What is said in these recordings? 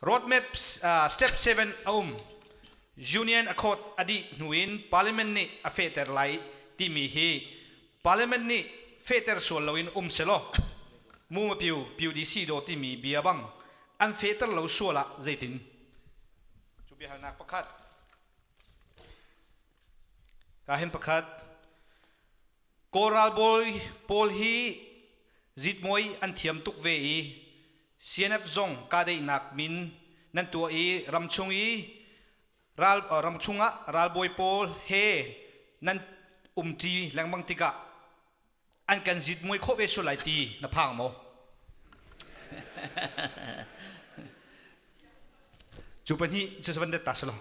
Roadmap uh, step 7 a um. Union a khawt a dih hnu in Parliament nih a fehter lai timi hi Parliament nih fehter sual loin um selaw Muma Pyu PUDC do timi bia bang an fehter lo sual ah zeitin? Cu biahalnak pakhat. Ka hen pakhat. Kawlralbawi pawl hi zitmoi an thiam tuk ve i CNF zong kahdeihnak min nan tuah i ramchung i ral, uh, ramchung ah ralbawi pawl he nan umṭi lengmang tikah an kan zitmui khawh ve sual lai ti na phang maw? cu pahnih cu van det ta salo.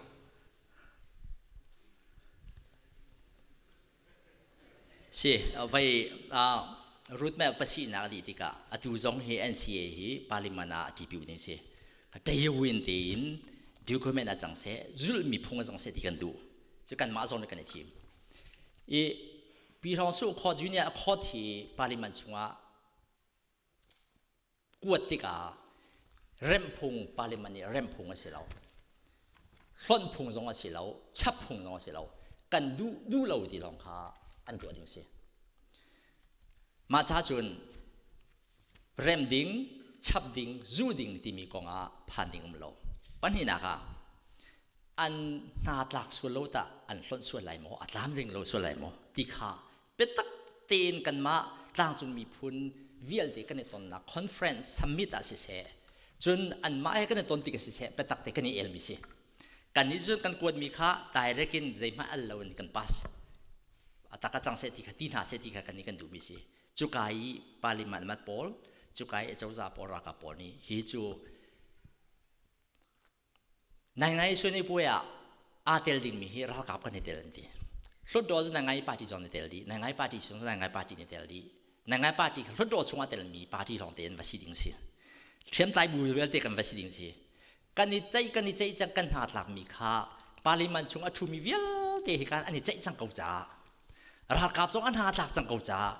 Si, vei roadmap pasihnak a dih tikah atu zong hi NCA hi Parliament ah ṭipil ding si. Tailwind tein document a cang seh, zulhmi phung a cang seh ti kan duh. Cu kanmah zong nih kan i thim. I Pi Hrang Sung Court Union Court hi Parliament chungah kuat tikah remhphung parliament nih remhphung a si lo hlonh phung zong a si lo chap phung zong a si lo kan duh duh lo ti lawng kha an tuah ding si mah ca cun rem ding chap ding zu ding timi kong ah phan ding um lo pahnihnak ah an hna tlak sual lo tah an hlonh sual lai maw a tlam ring lo sual lai maw ti kha biatak tein kanmah tlangcung miphun vialte kan i tonnak conference summit ah siseh cun anmah he kan i ton ti ka siseh biatak te kan i elmi si kan nih cun kan kuatmi kha direct in zeihmah al lo in kan pass atak a cang seh ti kha ti hna seh ti kha kan i kan duhmi si cuka i parliament mat pawl cuka i cozah pawl ralkap pawl nih hi cu Nai ngai suani puai ah aa tel dingmi hi ralkap kan i tel an ti. Hlutdaw cu nai ngai party zong na tel dih, nai ngai party chung cu nai ngai party na tel dih. Nai ngai party khi hlutdaw chungah telmi party lawng tein va si ding si. Hriamtlai bu vialte kan va si ding si. Kan i ceih kan i ceih cang kan hna tlakmi kha parliament chung a ṭhumi vialte hi kan an i ceih cang ko caah ralkap zong an hna tlak cang ko caah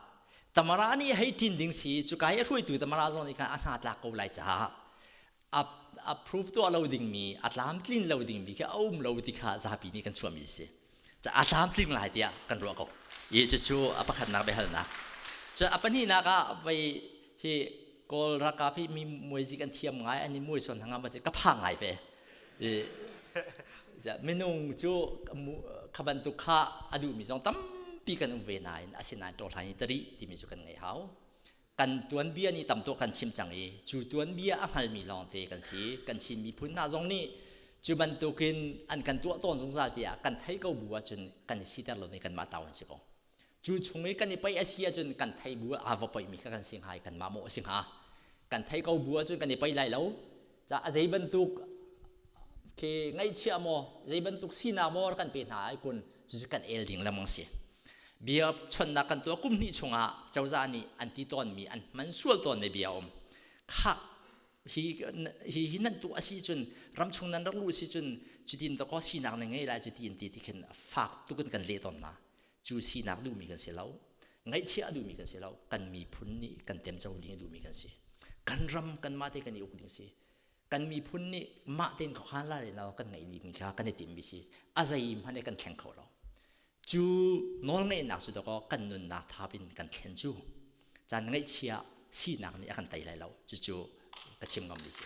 Tamara nih hei ṭin ding si cuka i a hruaitu Tamara zong nih khan a hna tlak ko lai caah approve tuah lo dingmi a tlamtlin lo dingmi khi a um lo ti kha zapi nih kan chuahmi a si a tlamtling lai tiah kan ruah ko i cucu a pakhatnak biahalnak cu a pahnihnak ah vei hi kawl ralkap hi mi muaizi kan thiam ngai an i muai son hanga ma ka pha ngai ve i minung cu kha bantuk kha a duhmi zong tampi kan um ve nain asinain ṭawlhlan i tari timi cu kan ngei hau kan tuanbia nih tam tuk kan chim cang i cu tuanbia a hngalmi lawngte kan si kan Chin miphun hna zong nih cu bantukin an kan tuah tawn zungzal tiah kan thei ko bu ahcun kan i siter lo ni kanmah ta an si ko cu chung i kan i paih a si ahcun kan thei bu aa va paihmi kha kan si hnga i kanmah mawh a si hnga kan thei ko bu ahcun kan i paih lai lo Ca a zeibantuk khi ngaihchia maw zeibantuk sinak maw kan pe hna ai kun cucu kan el ding lengmang si bia chonnak kan tuah kum hnih chungah cozah nih an ti tawnmi an man sual tawnmi bia um khak hi hi hi nan tu asi cun ramchung nan rak lu si cun cutin to ko sinak na ngei lai cuti in ti ti khin fak tukin kan leh tawn na cu sinak duhmi kan si lo ngaihchiah a duhmi kan si lo kan miphun nih kan temco ding a duhmi kan si kan ram kan mah te kan i uk ding si kan miphun nih mah tein khuakhan la rin kan ngeih dimi kha kan i timmi si a zei hmanh kan thleng kho lo cu nawlngeihnak cu dakaw kan nunnak thap in kan thlen cu caan ngaihchia sinak nih a kan tei lai lo cucu ka chim ngam si